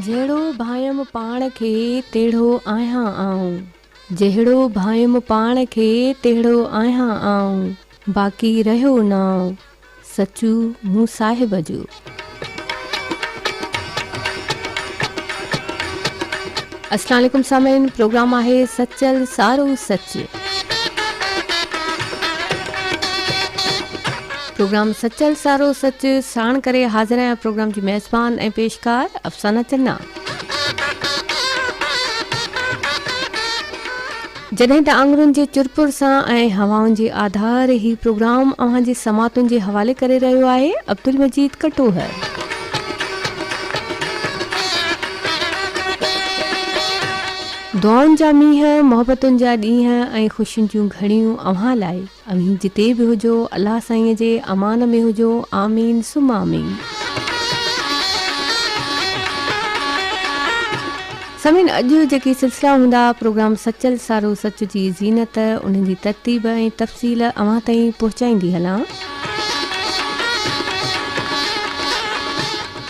جهڙو ڀانئيم پاڻ کي تهڙو آهيان آئون. جهڙو ڀانئيم پاڻ کي تهڙو آهيان آئون. باقي رهيو نانء سچو مون صاحب جو. السلام عليڪم سامعين پروگرام آهي سچل سارو سچ پروگرام سچل سارو سچ ساڻ ڪري حاضر آهيان پروگرام جي ميزبان ۽ پيشڪار افسانه چنا جڏهن ته آڱرين جي چرپر سان ۽ هوائن جي آڌار هي پروگرام اوهان جي سماعتن جي حوالي ڪري رهيو آهي عبدالمجيد ڪٽوهه. دعائن جا مينهن، محبتن جا ڏينهن ۽ خوشين جون گهڙيون اوهان لاء. اوهين جتي به هجو الله سائين جي امان ۾ هجو آمين ثم آمين. سامعين اڄ جيڪي سلسلا هوندا پروگرام سچل سارو سچ جي زينت انهن جي ترتيب ۽ تفصيل اوهان تائين پهچائيندي هلان.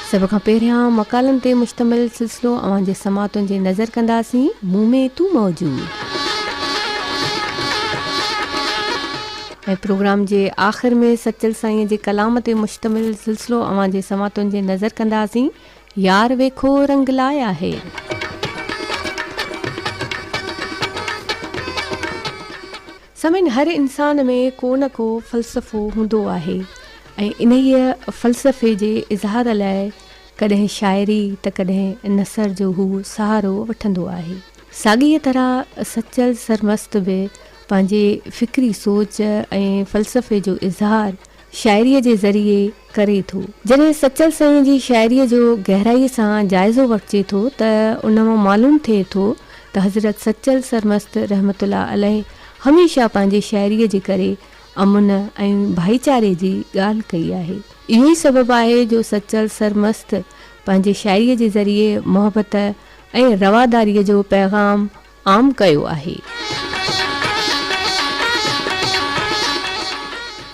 سڀ کان پهريان مقالن تي مشتمل سلسلو اوهان جي سماعتن جي نظر ڪنداسين، مون ۾ تون موجود. ۽ پروگرام جي آخر ۾ سچل سائينء جي ڪلام تي مشتمل سلسلو اوهان جي سماعتن جي نظر ڪنداسين، يار ويکو رنگ لايا هي. سمن هر انسان ۾ ڪو نه ڪو فلسفو هوندو آهي ۽ انهيء فلسفي جي اظهار لاء ڪڏهن شاعري ته ڪڏهن نثر جو هو سهارو وٺندو آهي. ساڳيء طرح سچل سرمست به پنهنجي فڪري سوچ ۽ فلسفي جو اظهار شاعريء جي ذريعي ڪري ٿو. جڏهن سچل سائينء جي شاعريء جو گهرائيء سان جائزو وٺجي ٿو ته ان مان معلوم ٿئي ٿو ته حضرت سچل سرمست رحمة الله عليه هميشه پنهنجي شاعريء جي ڪري امن ۽ ڀائيچاري جي ڳالهه ڪئي آهي. اهو ئي سبب آهي جو سچل سرمست پنهنجي شاعريء جي ذريعي محبت ۽ رواداريء جو پيغام عام ڪيو آهي.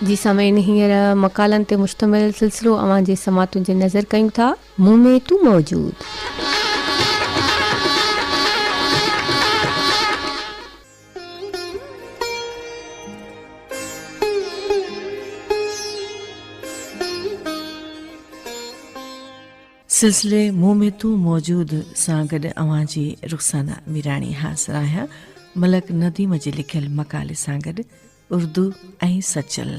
جي سامعين هينئر مقالن تي مشتمل سلسلو اوهان جي سماعتن جي نذر ڪيون ٿا. مون ۾ تون موجود. سلسلي مون ۾ تون موجود سان گڏ اوهان جي رخسانه ميراڻي حاضر آهيان ملڪ نديم جي لکيل مقالي سان گڏ اردو ۽ سچل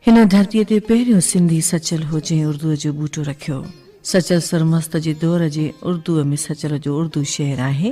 هن ڌرتي تي پهريون سنڌي سچل هو جنهن اردو جو ٻوٽو رکيو سچل سرمست جي دور جي اردو ۾ سچل جو اردو شعر آهي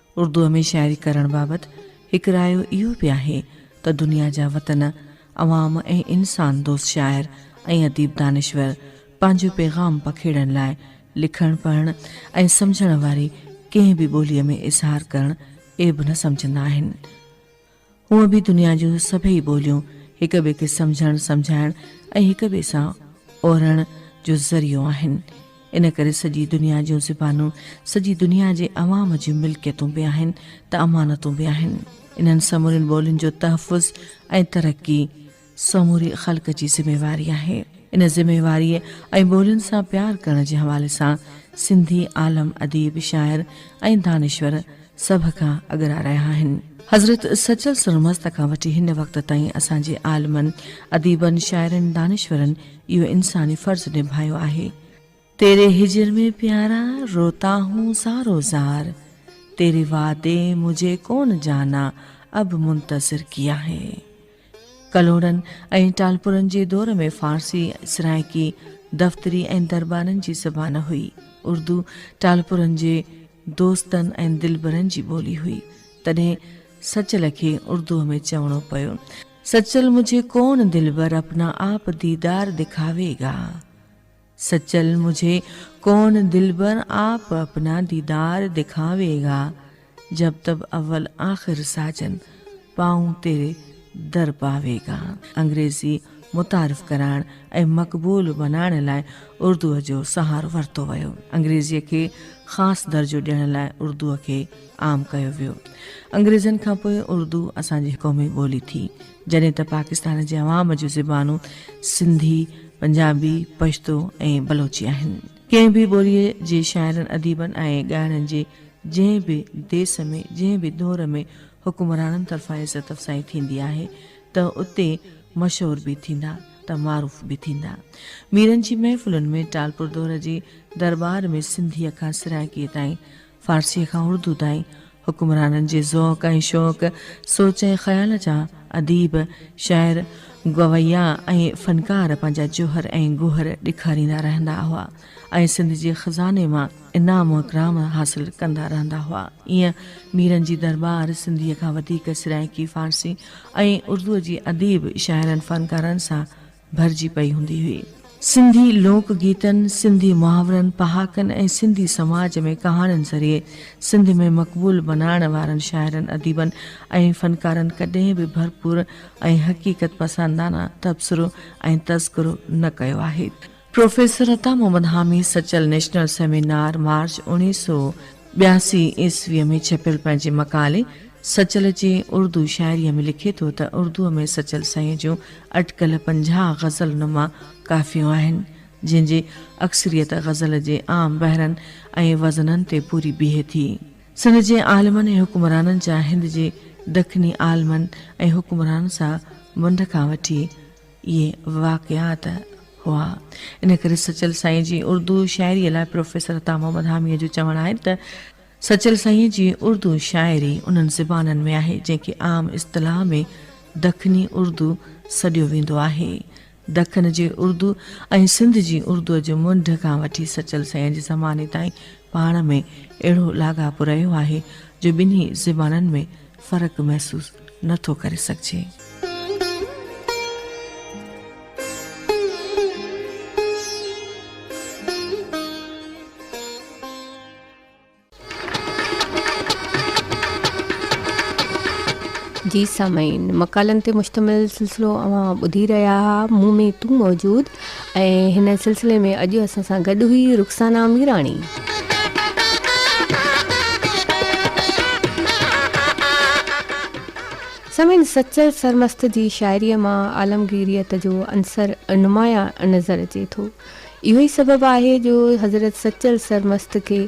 اردوء ۾ شاعري ڪرڻ بابت هڪ رايو اهو به آهي ته دنيا جا وطن، عوام ۽ انسان دوست شاعر ۽ اديب دانشور پنهنجو پيغام پکيڙڻ لاء لکڻ پڙهڻ ۽ سمجهڻ واري ڪنهن به ٻوليء ۾ اظهار ڪرڻ عيب نه سمجهندا آهن. هونء به دنيا جون سڀئي ٻوليون هڪ ٻئي کي سمجهڻ، سمجهائڻ ۽ هڪ ٻئي سان اورڻ جو ذريعو آهن. ان ڪري سڄي دنيا جون زبانون سڄي دنيا جي عوام جون ملڪيتون به آهن ته امانتون به آهن. انهن سمورين ٻولين جو تحفظ ۽ ترقي، سموري خلق جي ذميواري آهي. ان ذميواريء ۽ ٻولين سان پيار ڪرڻ جي حوالي سان سنڌي عالم، اديب، شاعر ۽ دانشور سڀ کان اڳرا رهيا آهن. حضرت سچل سرمست کان وٺي هن وقت تائين اسان جي عالمن، اديبن، شاعرن، دانشورن اهو انساني فرض نڀايو آهي. تيري هجر ۾ پيارا روتا هون سارو زار تيري وعدي مجهي ڪون جانا اب منتظر ڪيا هي ڪلهوڙن ۽ ٽالپرن جي دور ۾ فارسي سرائيڪي دفتري ۽ دربارن جي زبان هئي اردو ٽالپرن جي دوستن ۽ دلبرن جي ٻولي هئي تڏهن سچل کي اردوء ۾ چوڻو پيو سچل مجهي ڪون دلبر اپنا آپ ديدار دکاوي گا. سچل مجھے کون دلبر آپ اپنا دیدار دکھاوے گا جب تب اول آخر ساجن پائون تيري در پاوي گا انگريزي متعارف ڪرائڻ ۽ مقبول بنائڻ لاء اردوء جو سهارو ورتو ويو انگريزيء کي خاص درجو ڏيڻ لاء اردوء کي عام ڪيو ويو انگريزن کانپوء اردو اسان جي قومي ٻولي ٿي جڏهن ته پاڪستان جي عوام جون زبانون سنڌي، پنجابي، پشتو ۽ بلوچي آهن. ڪنهن به ٻوليء جي شاعرن، اديبن ۽ ڳائڻن جي جنهن به ديس ۾ جنهن به دور ۾ حڪمرانن طرفان عزت افزائي ٿيندي آهي ته اتي مشهور به ٿيندا ته معروف به ٿيندا. ميرن جي محفلن ۾ ٽالپر دور جي درٻار ۾ سنڌيء کان سرائڪيء تائين فارسيء کان اردو تائين حڪمرانن جي ذوق ۽ شوق، سوچ ۽ خيال جا اديب، شاعر، گويا ۽ فنڪار پنهنجا جوهر ۽ گوهر ڏيکاريندا رهندا هئا ۽ سنڌ جي خزاني مان انعام و اڪرام حاصل ڪندا رهندا هئا. ايئن ميرن جي درٻار سنڌيء کان وڌيڪ سرائيڪي فارسي ۽ اردوء جي اديب، شاعرن، فنڪارن سان ڀرجي پئي هوندي هئي. سنڌي لوڪ گيتن، سنڌي محاورن، پهاڪن ۽ سنڌي سماج ۾ ڪهاڻين ذريعي سنڌ ۾ مقبول بنائڻ وارن شاعرن، اديبن ۽ فنڪارن ڪڏهن به ڀرپور ۽ حقيقت پسندانه تبصرو ۽ تذڪرو نه ڪيو آهي. پروفيسر عطا Muhammad Hami Sachal national seminar, March, اوڻيهه سؤ ٻياسي عيسويء ۾ ڇپيل پنهنجي مقالي سچل جي اردو شاعريء ۾ لکي ٿو ته اردوء ۾ سچل سائينء جون اٽڪل پنجاهه غزل نما ڪافيون آهن، جن جي اڪثريت غزل جي عام بحرن ۽ وزنن تي پوري بيهي ٿي. سنڌ جي عالمن ۽ حڪمرانن جا هند جي دکني عالمن ۽ حڪمرانن سان ونڊ کان وٺي، اهي واقعات هئا. ان ڪري سچل سائينء جي اردو شاعريء لاء پروفيسر عطا محمد حاميء جو چوڻ آهي ته، سچل سائينء جي اردو شاعري انهن زبانن ۾ آهي، جنهن کي عام اصطلاح ۾ دکني اردو سڏيو ويندو آهي. دکن جي اردو ۽ سنڌ جي اردوء جي منڍ کان وٺي سچل سائينء جي زماني تائين پاڻ ۾ اهڙو لاڳاپو رهيو آهي، جو ٻنهي زبانن ۾ فرق محسوس نه ٿو ڪري سگهجي. جي سامعين مقالن تي مشتمل سلسلو اوهان ٻڌي رهيا ها مون ۾ تون موجود ۽ هن سلسلي ۾ اڄ اسان سان گڏ هئي رخسانا ميراڻي سمن سچل سرمست جي شاعري مان عالمگيريت جو عنصر نمايان نظر اچي ٿو اهو ئي سبب آهي جو حضرت سچل سرمست کي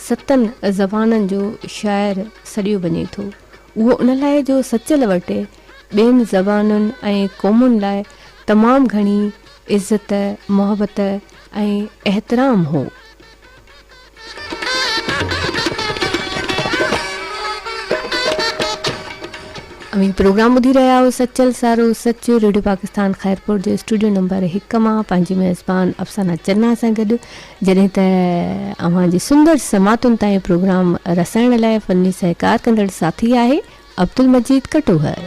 ستن زبانن جو شاعر سڏيو وڃي ٿو اهو ان لاء جو سچل وٽ ٻين زبانن ۽ قومن لاء تمام گهڻي عزت، محبت ۽ احترام هو. اوهين پروگرام ٻڌي رهيا آهيو سچل سارو سچ ريڊيو پاڪستان خيرپور جي اسٽوڊيو نمبر هڪ مان پنهنجي ميزبان افسانه چنا سان گڏ جڏهن ته اوهان جي سندر سماعتن تائين پروگرام رسائڻ لاء فني سهڪار ڪندڙ ساٿي آهي عبدالمجيد ڪٽوهر.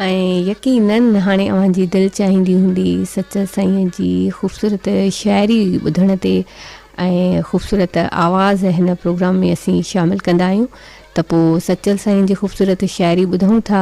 ۽ يقينن هاڻي اوهان جي دل چاهيندي هوندي سچل سائين جي خوبصورت شاعري ٻڌڻ تي ۽ خوبصورت آواز هن پروگرام ۾ اسين شامل ڪندا آهيون ته پوء سچل سائين جي خوبصورت شاعري ٻڌون ٿا.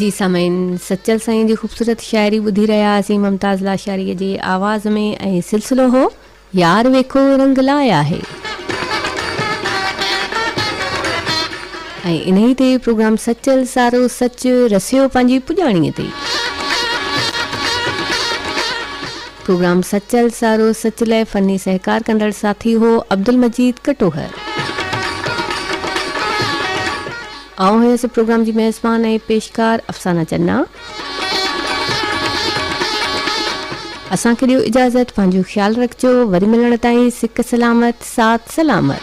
جي سامعين سچل سائين جي خوبصورت شاعري ٻڌي رهيا هئاسين ممتاز لاشاري جي آواز ۾ ۽ سلسلو هو يار ويکو رنگ لاء آهي ۽ انهي تي پروگرام سچل سارو سچ رسيو پنهنجي پڄاڻي تي پروگرام سچل سارو سچ لاء فني سهڪار ڪندڙ ساٿي هو عبدالمجيد ڪٽوهر آئون هيس پروگرام جي ميزبان ۽ پيشڪار افسانه جناح. اسان کي ڏيو اجازت پنهنجو خيال رکجو وري ملڻ تائين سڪ سلامت سات سلامت.